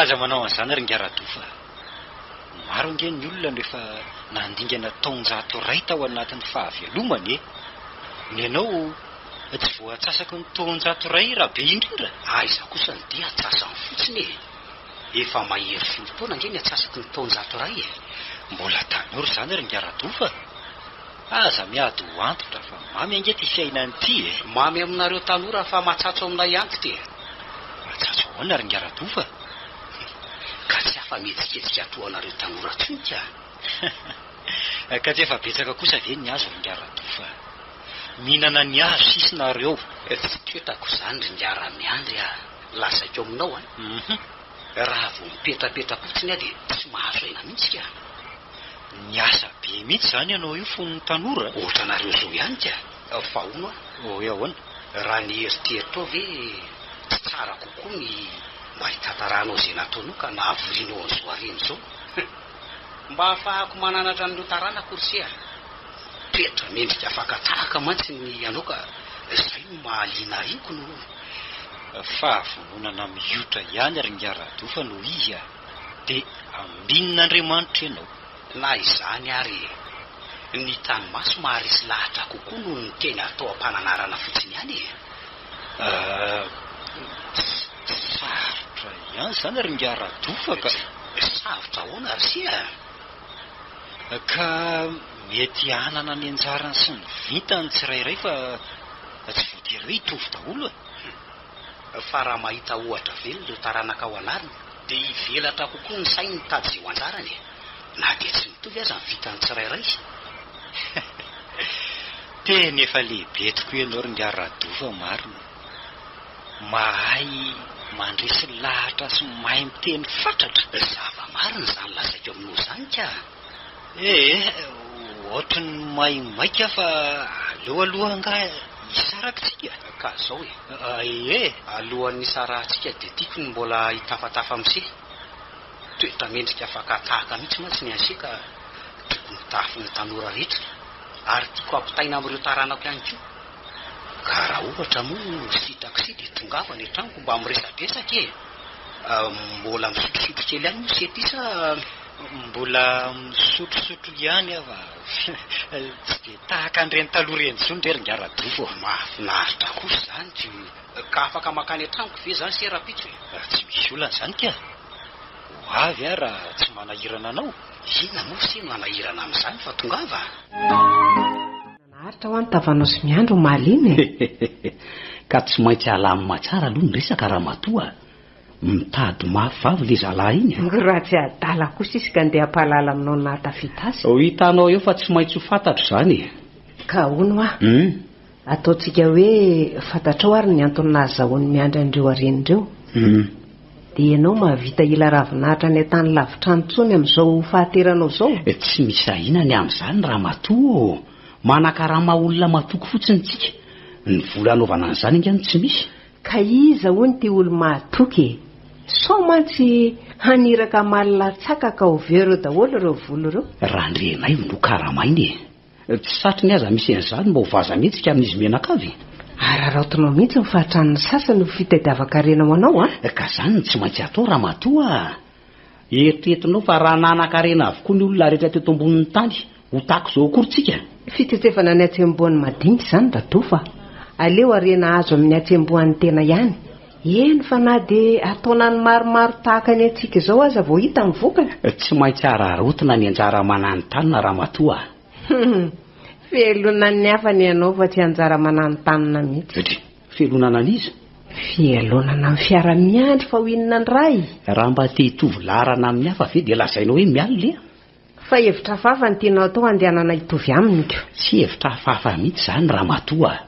Aza manao an'izany ry nga Radoa fa. Maro ange ny olona no efa nandingana taonjato iray tao anatin'ny fahavelomany e! Ny anao tsy voaatsasaky ny taonjato iray raha be indrindra? Aiza kosa ny dia atsasany fotsiny e! Efa mahery folo taona ange ny atsasaky ny taonjato iray e! Mbola tanora izany ry Ngaradoa fa aza miady ho antitra fa mamy ange ity fiainana ity e! Mamy aminareo tanora fa matsatso aminay antitra e! Matsatso ahoana ry Ngaradoa fa Ka tsy afa-mihetsiketsika toa anareo tanora tsony ka a! Ka tsy efa betsaka kosa ve ny hazo ringahy Ratofa a! Mihinana ny hazo sisa nareo. Tsy ketako izany ringahy Ramiandry a! Lazaiko aminao a! Raha vao mipetrapetra fotsiny aho dia tsy mahazo aina mihitsy ka a! Niasa be mihitsy izany ianao io fony tanora a! Ohatranareo izao ihany ka! Fa hono hoe ahoana? Raha ny eritreritro ve tsy tsara kokoa ny mba hitantaranao izay nataonao ka nahavorianao an'izao harena izao? Mba hahafahako mananatra an'ireo taranako ry se a! Toetra mendrika fakan-tahaka mantsy ny anao ka izay no mahaliana ahy io k'no hono. Fahavononana mihotra ihany ry Ngah Radofa no izy a! Dia ambinin' Andriamanitra ianao. Na izany ary, ny tany maso maharesy lahatra kokoa noho ny teny atao am-pananarana fotsiny ihany e! Ts-ts-ts sarotra ihany izany ry ingahy Radofa ka! Sarotra ahoana ry se a! Ka mety hanana ny anjarany sy ny vintany ny tsirairay fa tsy voatery hoe hitovy daholo e! fa raha mahita ohatra velona ireo taranakao anarina dia hivelatra kokoa ny sainy hitady izay ho anjarany e! na dia tsy mitovy aza ny vitan'ny tsirairay Teny efa lehibe tokoa ianao Ringahy Rado fa marina. Mahay mandresy lahatra sy mahay miteny fatratra. Zava-marina izany lazaiko aminao izany ka! Ee, ohatran'ny may maika fa aleo aloha angaha hisaraka isika? Ka zao e! Ee, alohan'ny hisarahantsika dia tiako ny mbola hitafatafa am'se. Toetra mendrika fakan-tahaka mihitsy mantsy ny an'se ka tokony ho tahafin'ny tanora rehetra ary tiako hampitaina amin'ireo taranako ihany koa. Ka raha ohatra moa sitak'se dia tongava any an-tranoko mba miresadresaka e! Mbola misotrosotro kely ihany moa se ty sa? Mbola misotrosotro ihany aho fa tsy dia tahaka an'ireny taloha ireny intsony re ry Ngaradoa ô. Mahafinaritra kosa izany ty hoe. Ka afaka mankany an-tranoko ve izany se rahampitso e? Tsy misy olana izany kay. Ho avy aho raha tsy manahirana anao. Inona moa se no hanahirana amin'izany fa tongava a! Naharitra ho any tavanao sy miandry omaly iny e! Ka tsy maintsy alamin'mahatsara aloha ny resaka ramatoa a! Mitady mafy vavy le zalahy iny a! Ny ratsy adala kosa izy ka ndeha hampahalala aminao ny nahatafita azy. Ho hitanao eo fa tsy maintsy ho fantatro izany e! Ka hono hoa, ataontsika hoe fantatrao ary ny antony nahazahoan'i Miandry an'ireo hareny ireo. Dia ianao mahavita hila ravinahitra any an-tany lavitra any intsony amin'izao fahateranao izao? Tsy misy ahiana ny amin'izany ramatoa ô! Manakarama olona matoky fotsiny isika. Ny vola hanaovana an'izany ange no tsy misy. Ka iza hono ty olo mahatoky e? Sao mantsy haniraka hamaly latsakaka ho vero daholo ireo volo ireo? Randrianaivo no karamaina e! Tsy satriny aza misy an'izany mba ho vaza mihetsika amin'izy mianakavy. Araraotinao mihitsy ny fahatran'ny sasany ho fitadiavan-karena ho anao a! Ka zany no tsy maintsy atao ramatoa a! Eritreretinao fa raha nanan-karena avokoa ny olona rehetra teto ambonin'ny tany, ho tahaka izao akory tsika? Fitsetsevanao ny hatsembohan'ny madinika izany Dadoo fa aleo harena azo amin'ny hatsembohan'ny tena ihany, eny fa na dia an-taonany maromaro tahaka ny antsika izao aza vao hita ny vokany. Tsy maintsy hararaotina ny anjara mananontanona Ramatoa a! Humm! Velona ny hafa ny anao fa tsy anjara mananontanona mihitsy. Feloana analyse. Fialonana amin'ny fiara miandry fa ho inona ny ray? Raha mba te hitovy laharana amin'ny hafa ve dia lazainao hoe mial le a? Fa hevitra hafahafa no tianao atao handehanana hitovy aminy ko. Tsy hevitra hafahafa mihitsy izany ramatoa a!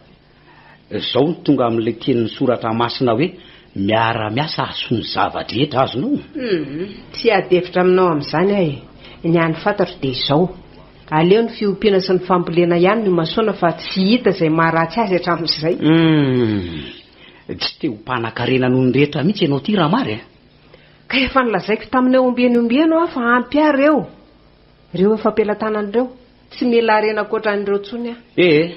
Izao no tonga amin'ilay tenin'ny soratra masina hoe miara-miasa hahasoa ny zava-drehetra, azonao? Humm, tsy hiady hevitra aminao amin'izany aho e! Ny hany fantatro dia izao. Aleo ny fiompiana sy ny fambolena ihany no imasoana fa tsy hita izay maharatsy azy hatramin'izay. Humm! Tsy te ho mpanakarena noho ny rehetra mihitsy ianao ity raha mary eh! Ka efa nolazaiko taminao ombieny ombieny hoa fa ampy aho ireo, ireo efa am-pelatanana ireo, tsy mila harena ankoatran'ireo intsony aho. Ee,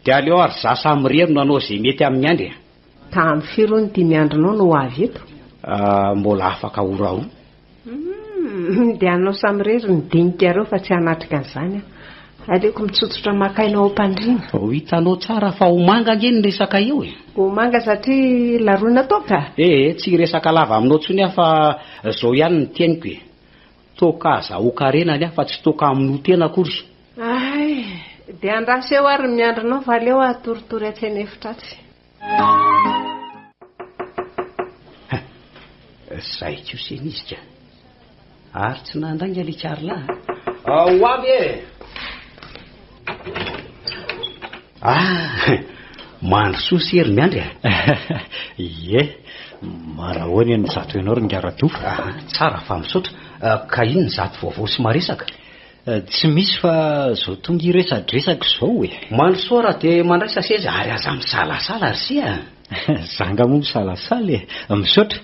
dia aleo ary izaho sahy mirery no hanao izay mety amin'ny andry eh! Tamin'ny firy hono ity miandry anao no ho avy eto? Ahh, mbola afaka ora roa. Humm dia anao samirery ny dinikareo fa tsy hanatrika an'izany aho. Aleoko mitsotsotra maka aina ao am-pandriana. Vao hitanao tsara fa ho manga ange ny resaka eo e! Ho manga satria laroina toaka? Eh eh, tsy hiresaka lava aminao intsony aho fa izao ihany ny teniko e! Toaka azahoan-karena ny ahy fa tsy toaka hamonoa tena akory. Hay, dia andraso eo ary ny miandry anao fa aleo atoritory atsy an'efitra atsy. Zay ko se nizika. Ary tsy nandainga le Carla. Ao avy e. Ah, mandrosoa sy hery miandry ah. Ie, marahoana eny zato ianao ry Ngaradoa. Ah, tsara fa misaotra. Ah, ka inona zato vaovao sy maresaka? Tsy misy fa zao tonga hiresadresaka zao e! Mandrosoa raha dia mandraisa seza ary aza misalasala ry se a! Zanga moa misalasala e! Misaotra!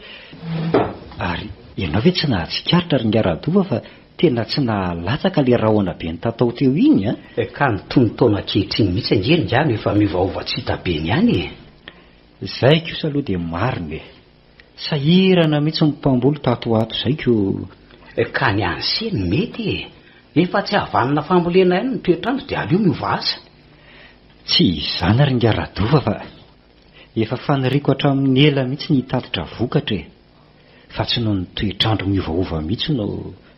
Ary ianao ve tsy nahatsikaritra ry Ngaradoa fa tena tsy nahalatsaka ilay rahona be nitatao teo iny a! Ka ny tonon-taona ankehitriny mihitsy ange ry nga no efa miovaova tsy hita be ny any e! Zay kosa aloha dia marina e! Sahirana mihitsy ny mpamboly tato ho ato izay ko. Ka ny an'i Sy no mety e! Efa tsy havanana fambolena ihany ny toetr'andro dia aleo miova asa. Tsy izany ry ingahy Radofa fa efa faniriako hatramin'ny ela mihitsy ny hitatitra vokatra e! Fa tsy noho ny toetr'andro miovaova mihitsy no.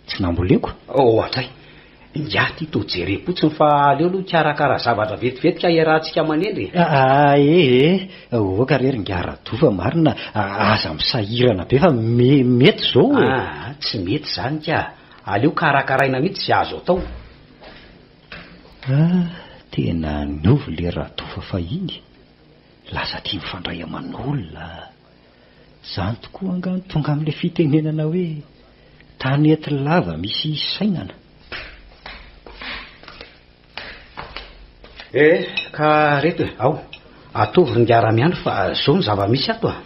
Tsy namboleko. Ohatray. Ingahy ty to jerem-potsiny fa aleo aloha hikarakara zavatra vetivety ka iarahantsika manendry e. Aeee, oka re r'ingahy Rado fa marina aza misahirana be fa me, mety izao e. Aa, tsy mety izany ka. Aleo karakaraina mihitsy izay azo atao. Aa, tena niova ilay Rado fa fahiny. Lasa tia mifandray aman'olona. Izany tokoa angaha no tonga amin'ilay fitenenana hoe tanety lava misy hisainana. Eh, ka reto e, ao, atovy ry Ngara Miandry fa izao ny zava-misy ato a!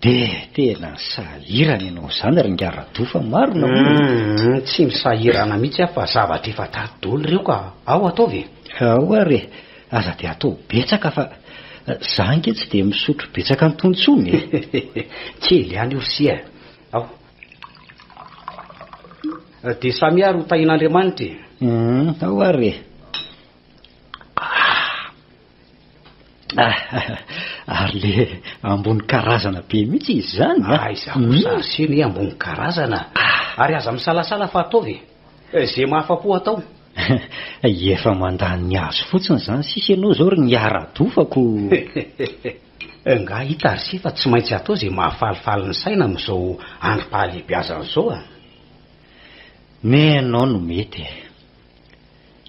Dia tena sahirana ianao izany ry Ngara Radoa fa marina hono e! Humm, tsy misahirana mihitsy aho fa zavatra efa tary daholo ireo ka! Ao, ataovy e! Ao ary e! Aza dia atao betsaka fa za ange tsy dia misotro betsaka an'tony tsony e. Kely ihany io sia e. Ao. Dia samia ary ho tahin'Andriamanitra e. Hum, ao ary e. Ah, ary le ambony karazana be mihitsy izy izany. Aiza kosa arsena e, ambony karazana. Ary aza misalasala fa ataovy e. Ze mahafa-po atao. Efa mandany ny azy fotsiny zany sisa ianao zao ry ngiaradofako o! Ngah hita ry se fa tsy maintsy atao ze mahafalifaly ny saina amizao androm-pahalehibeazana zao a! Me ianao no mety e!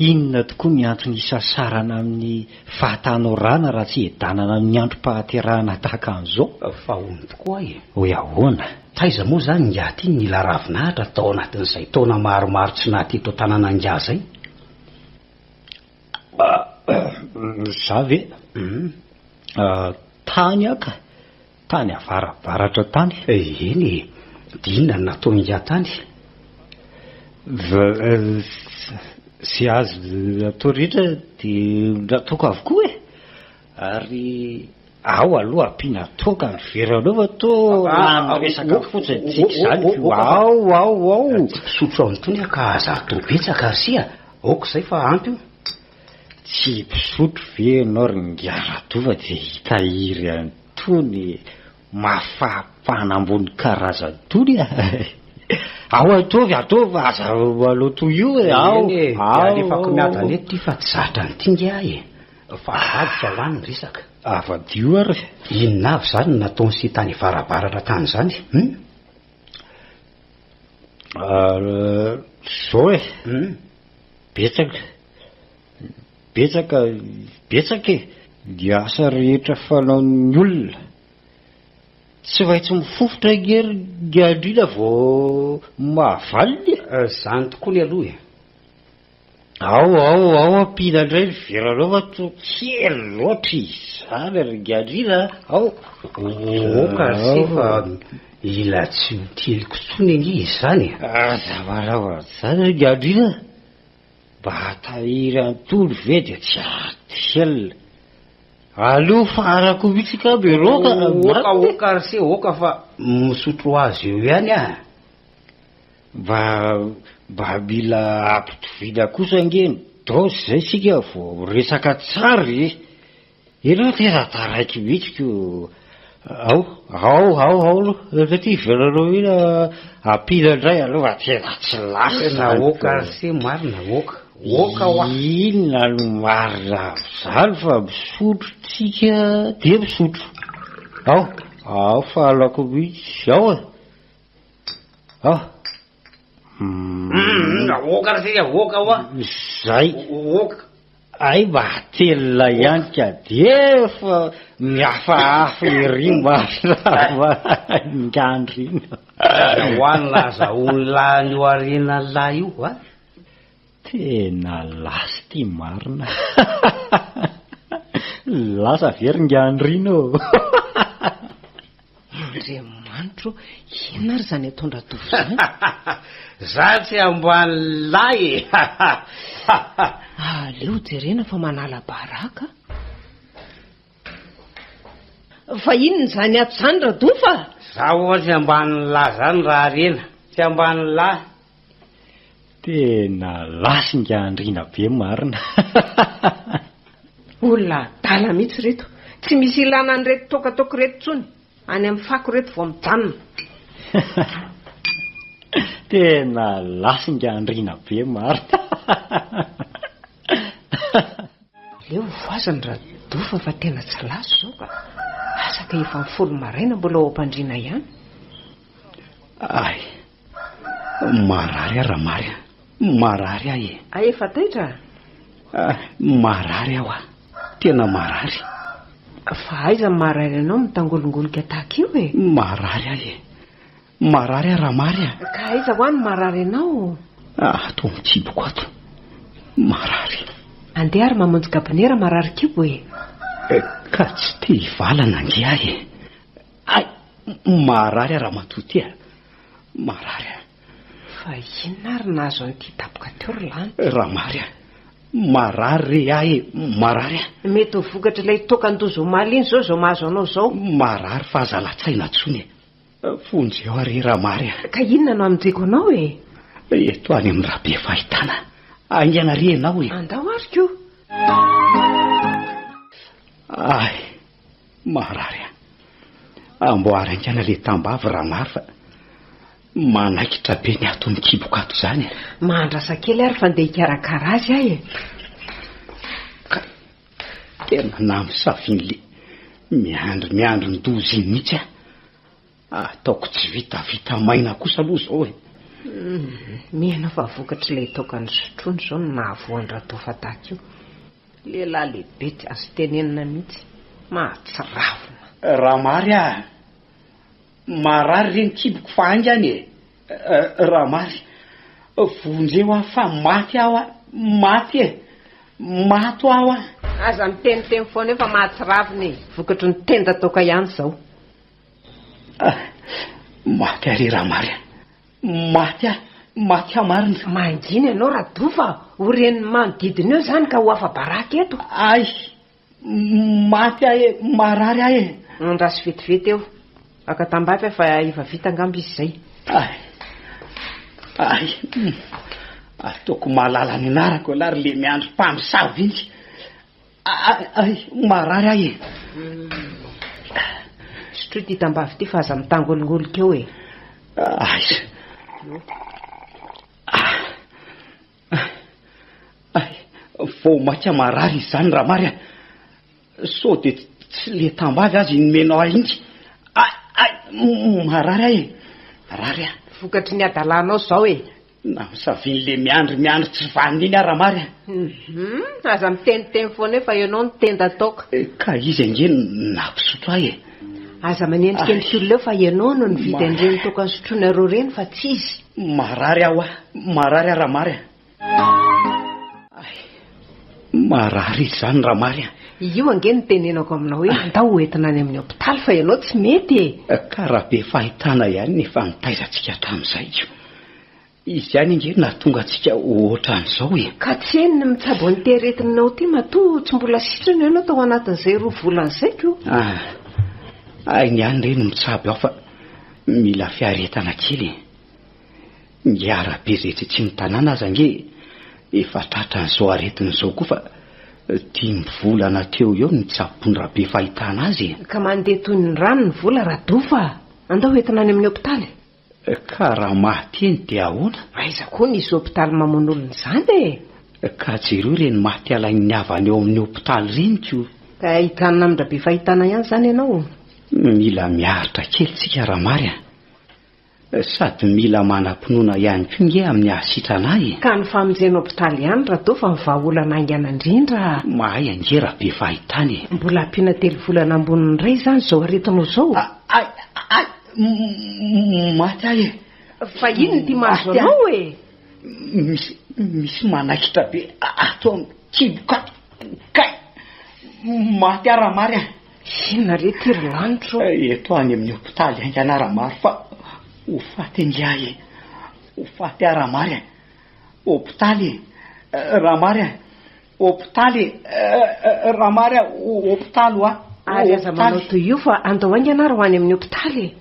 Inona tokoa ny antony isasarana amin'ny fahatanorana raha tsy edanana amin'ny androm-pahaterahana tahaka an'izao? Fa hono tokoa e! Hoe ahoana? Taiza moa izany ingahy ity nila ravinahitra tao anatin'izay taona maromaro tsy naha teto an-tanàna ingahy izay? Izaho ve? Tany aho ka! Tany avarabaratra tany. Eny e! Dia inona no nataony ingahy tany? Izay azo atao rehetra dia nataoko avokoa e! Ary ao aloha ampiana toaka ny veranao fa toa rano resaka fotsiny tsika izany ko! Ao ao ao! Tsy mpisotro amin'itony aho ka aza atao betsaka ary sia! Aoka izay fa ampy io! Tsy mpisotro ve ianao ry Ngiaradova dia hitahiry an'itony mafapana ambony karazana itony a! Ao ataovy ataovy aza aloha toy io e! Ao! Eny e! Dia alefako miadana eto ity fa tsy zatra an'ity ngiahy e! Fa avadika ho any ny resaka. Avadio ary! Inona avy izany no nataon'i Sita any Avarabaratra tany izany? Hum! Ary izao e! Hum! Betsaka, betsaka, betsaka e! Ny asa rehetra fanaon'ny olona. Tsy maintsy mifofotra ange ny andriana vao mahavaliny e! Izany tokoa ny aloha e! Ao, ao, ao ampiana indray ny veranao fa toa kely loatra izany ry ny andriana a! Ao! Ô, ô, ô, ka ry se fa Mila tsy ho tianiko intsony ange izany e! Aza maraohana izany ry Andriana a! Mba hatahiry an'itony ve dia tsy adiela. Aleo farako mihitsy ka miroaka a! Oka oka ry se oka fa misotro azy eo ihany a! Mba mba mila ampitoviana kosa ange ny dose izay isika vao miresaka tsara e! Ianao ity raha taraiky mihitsy ko ao ao ao ao aloha satria hiverina mila ampila indray aloha raha tena tsy lasa izany tena oka se marina oka oka hoa inona no marina amin'izany fa misotro tsika dia misotro ao ao fahalako mihitsy ao e ao Hum, aoka ra sika, aoka hoa. Zay. Aoka. Ay mba atelina ihany ka dia efa mihafahafa ery marina ngandry iny. Aza ho any laza olona any Oarinan'lah io a. Tena last ty marina Lasa ve ry ngiandrina ô? Andriamanitra ô, inona ary izany ataon-dra Dofy izany? Za tsy amboany lahy e! Aleo jerena fa manala baraka a! Fa inona izany ato izany Radofa a? Za ho'a tsy ambanin'ny lahy zany raha harena, tsy ambanin'ny lahy. Tena lasinga andriana be marina a! Olona adala mihitsy ireto, tsy misy ilana an'ireto toaka toaka ireto intsony, any amin'ny fako ireto vao mijanona. Tena lasinga andriana be marina a! Aleo ho voazany Radofa fa tena tsy lasa izao ka. Asa ka efa folo maraina mbola ao am-pandriana ihany. Ay, marary aho Ramary a. Marary aho e. Ay efa taitra a? Ah, marary aho a. Tena marary. Fa aiza ny maha-rary anao mitangolongoloka tahaka io e? Marary aho e. Marary aho Ramary a! Ka aiza hoa no marary anao? Ah, ato amin'ny kiboko ato. Marary. Andeha ary mamonjy gabonera marary kibo e! Eh, ka tsy te hivalana ange ahy e! Ay! Marary aho Ramatoa ty a! Marary a! Fa inona ary nahazo an'ity daboka teo ry Lanto? Ramary a! Marary re ahy e! Marary a! Mety ho vokatry ilay toaka an-doza omaly iny izao izao mahazo anao izao. Marary fa aza latsaina intsony e! Vonjy eo ary Ramary a. Ka inona no anondriako anao e? Eto any amin'ny rabe fahitana. Aingana re ianao e. Andao ary koa. Ay, marary a. Amboary haingana ilay tambavy Ramary fa manaikitra be ny ato mikiboko ato izany a. Mahandrasa kely ary fa ndeha hikarakara azy aho e. Tena namosavin le miandry miandry ny doza iny mihitsy aho. Ataoko tsy vitavita maina kosa aloha zao e. Mihena fa vokatr'ilay taokan'i Sotrony izao no nahavoa an-dRatofa tahaka io. Lehilahy lehibe tsy azo tenenina mihitsy. Mahatsiravina. Raha mary aho. Marary re ny kiboko fa haingana e! Ramary, vonjeo aho fa maty aho a! Maty e! Mato aho a! Aza miteniteny foana eo fa mahatsiravina e! Vokatry ny tenda toaka ihany izao. Ah! Maty aho re Ramary a! Maty aho! Maty aho marina! Mangina ianao Rado fa ho ren'ny manodidina eo izany ka ho afa-baraka eto. Ay! Maty aho e! Marary aho e! Andraso vetivety eo. Aka tambavy aho fa efa vita angamba izy izay. Ay! Ay! Ataoko mahalala ny anarako ialahy ry Lemiandry mpamosavy iny. Ay! Ay! Marary aho e! Sotroy ity tambavy ity fa aza mitangolongolika eo e! Aiza? Hay, vao maika marary izany raha mary an! Sao dia tsy ilay tambavy aza inomenao ahy intsy? Hay, hay, marary aho e! Marary aho! Vokatry ny hadalanao izao e! Na misavin'ilay miandry miandry tsy vanona iny aho raha mary an! Hum, aza miteniteny foana eo fa ianao no tenda ataoko. Ka izy ange no nampisotro ahy e! Aza manendrikendrika olona eo fa ianao no nividy an'ireny toaka nisotroinareo ireny fa tsy izy. Marary aho ah, marary aho Ramary ah. Ay, marary izy izany Ramary ah. Io ange no tenenako aminao hoe andao ho entina any amin'ny hopitaly fa ianao tsy mety e. Ka raha be fahitana ihany ny efa nitaizantsika hatramin'izay. Izy ihany ange no nahatonga antsika ho ohatran'izao e! Ka tsy eny ny mitsabo an'ity aretinao ity matoa tsy mbola sitrana ianao tao anatin'izay roa volana izay ko! Ah! Hainy ihany re ny mitsabo aho fa mila fiaretana kely e! Ny arabe izay tsitsian'ny tanàna aza ange efa tratran'izao aretina izao koa fa dimy volana teo ho eo no nitsaboan-dRabe fahitana azy e! Ka mandeha toy ny rano ny vola Radofa a! Andao entina any amin'ny hopitaly! Ka raha mahateny dia ahoana? Aiza koa nisy hopitaly mamono olona izany e! Ka jereo ireny maty alain'ny havany ao amin'ny hopitaly ireny koa. Ka hijanona amindra be fahitana ihany izany ianao? Mila miaritra kely tsika Ramary a! Sady mila manam-pinoana ihany koa nge amin'ny hahasitrana ahy e! Ka ny famonjena hopitaly ihany raha toa fa ny vahaolana haingana indrindra a! Mahay ange raha be fahitana e! Mbola ampiana telo volana amboniny indray izany izao aretinao izao? Ay! Ay! Maty ahy e! Fa inona ity mahazo anao e? Misy misy manaikitra be ato amin'ny kibo ka kay! Maty ahy Ramary a! Inona re ity ry lanitra ô? Eto any amin'ny hopitaly haingana Ramary fa ho faty ingahy e! Ho faty ahy Ramary a! Hopitaly e! Ramary a! Hopitaly eh, raha mary aho, hopitaly hoa. Ary aza manao toy io fa andao haingana ary ho any amin'ny hopitaly e.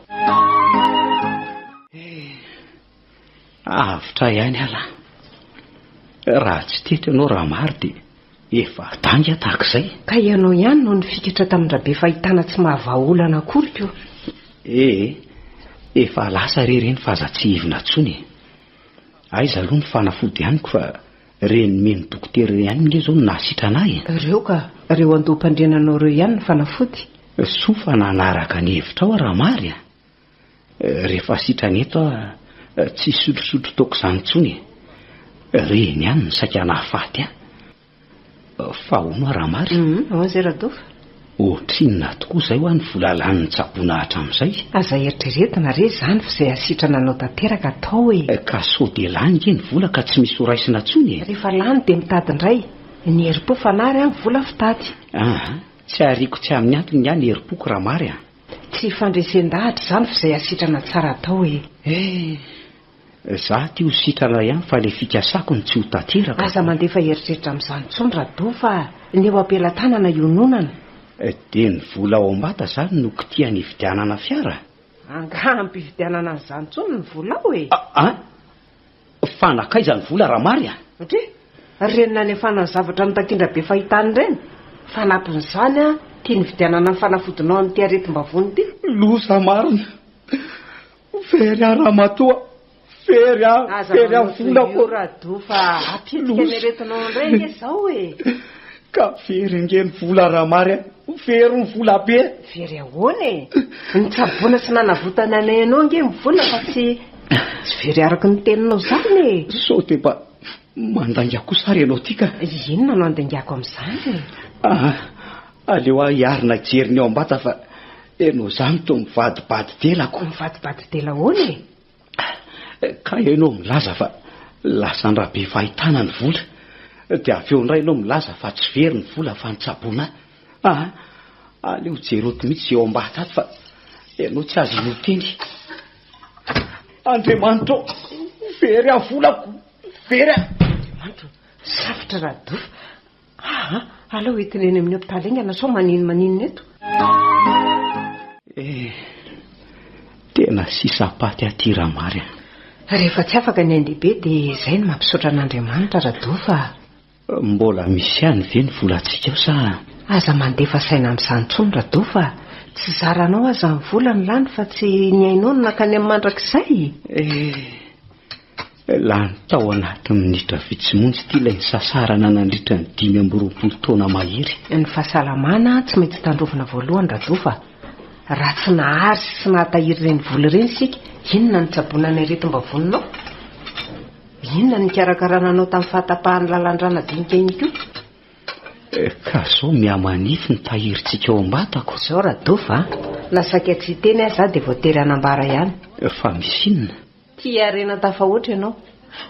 Eh, avotra ihany ala. Raha tsy teto ianao raha mary dia efa danga tahaka izay. Ka ianao ihany no nifikatra tamin-dRabe fahitana tsy mahavaha olana akory ko. Eh, efa lasa re ireny fa aza tsy hivina intsony e. Aiza aloha ny fanafody amiko fa Renime ny dokotera ireo ihany nge zao no nahasitrana ahy e! Reo ka! Reo andoham-pandriana anao reo ihany no fanafody! Soa fa nanaraka ny hevitrao aho Ramary a! Rehefa sitrana eto aho tsy hisotrosotro toaka izany intsony e! Reny ihany no saika nahafaty ahy! Fa hono hoa raha marina? Hum, hono zay Radofa? Ohatrinona tokoa izay hoa ny vola lanin'ny tsaboina hatramin'izay? Aza eritreretina re izany fa izay hasitrana anao tanteraka atao e! Ka sao dia lany ve ny vola ka tsy misy horaisina intsony e? Rehefa lany dia mitady indray. Ny herim-po fanahy an, vola fitady. Aa, tsy ariako tsy amin'ny antony ny ahy ny herim-poko raha mary an! Tsy fandresen-dahatra izany fa izay hasitrana tsara atao e! Eh! Za ty ho sitrana ihany fa le fikasako no tsy ho tanteraka. Aza mandefa eritreritra amin'izany intsony Rado fa ny eo ampelatanana iononana. Dia ny vola ao ambata zany no kitihan hividianana fiara? Angaha ampividianana an'izany intsony ny volao e! Aa! Fa nakaiza ny vola raha mary a? Satria ireny nanefana ny zavatra notakindra be fahitana ireny. Fanampin'izany aho tia nividianana ny fanafodinao amin'ity aretim-bavony ity. Loza marina! Very aho ramatoa, very aho, very aho volako ô! Ka very ange ny vola ramary a! Very ny vola be! Very ahoana e? Nitsaboana sy nanavotana anay anao ange ny vola fa tsy very araka ny teninao izany e! Sao dia mba mandainga kosa ary ianao ity ka? Inona no andaingako amin'izany e? Aleo aho hiarina hijery ny ao am-bata fa ianao izany toa mivadibady delako. Mivadibady dela ahoana e? Kay ianao milaza fa lasa an-dra be fahitana ny vola, dia avy eo indray ianao milaza fa tsy very ny vola fa nitsaboana ahy. Aa, aleo jereko mihitsy izay ao am-bata ato fa ianao tsy aza hanao teny. Andriamanitra o, very aho volako, very aho. Andriamanitra o, safotra Rado. Aa! alao hoentina eny amin'ny hopitaly haingana sao manino maninona eto. Eh! tena sisam-paty aty Ramary a! Rehefa tsy afaka ny ain-dehibe dia izay no mampisaotra an'Andriamanitra Rado fa. Mbola misy ihany ve ny volantsika ao sa. Aza mandefa saina amin'izany intsony Rado fa tsy zaranao aza ny vola no lany fa tsy ny ainao no nankany amin'ny mandrakizay e! Eh! Lany tao anatin'ny minitra vitsy monja ity ilay nisasarana nandritra ny dimy amby roapolo taona mahery. Ny fahasalamana tsy maintsy tandrovina voalohany Rado fa raha tsy nahary sy nahatahiry ireny vola ireny isika, inona no tsaboina ny aretim-bavoninao? Inona no nikarakarana anao tamin'ny fahatapahan'ny lalan-drà nadinika iny koa? Ka izao mihamanify ny tahirintsika ao am-batako. Izao Rado fa na saika tsy hiteny aza aho dia voatery hanambara ihany. Fa misy inona? Tia harena an tafahoatra ianao.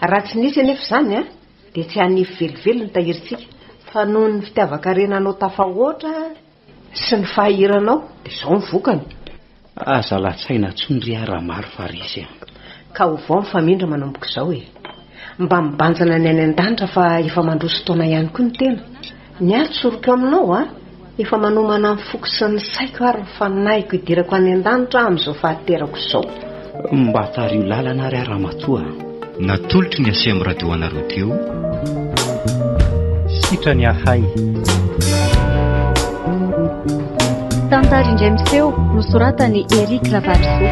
Raha tsy nisy anefa izany an, dia tsy hanefy velively ny tahirintsika, fa noho ny fitiavan-karena anao tafahoatra sy ny fahahiranao dia izao ny vokany. Aza latsaina tsony ry a Ramaro fa resy a. Ka ovao mifamindra manomboka izao e. Mba mibanjina ny any an-danitra fa efa mandroso taona ihany koa ny tena. Ny ahy tsoriko aminao a! Efa manomana ny foko sy ny saiko ary ny fanahiko hidirako any an-danitra aho amin'izao fahaterako izao. Mba tariho lalana ary aho ramatoa a! Natolotry ny Acm Radio anareo teo. Sitrany ahay. Tantara indray miseho nosoratan'i Eric Ravalosoa.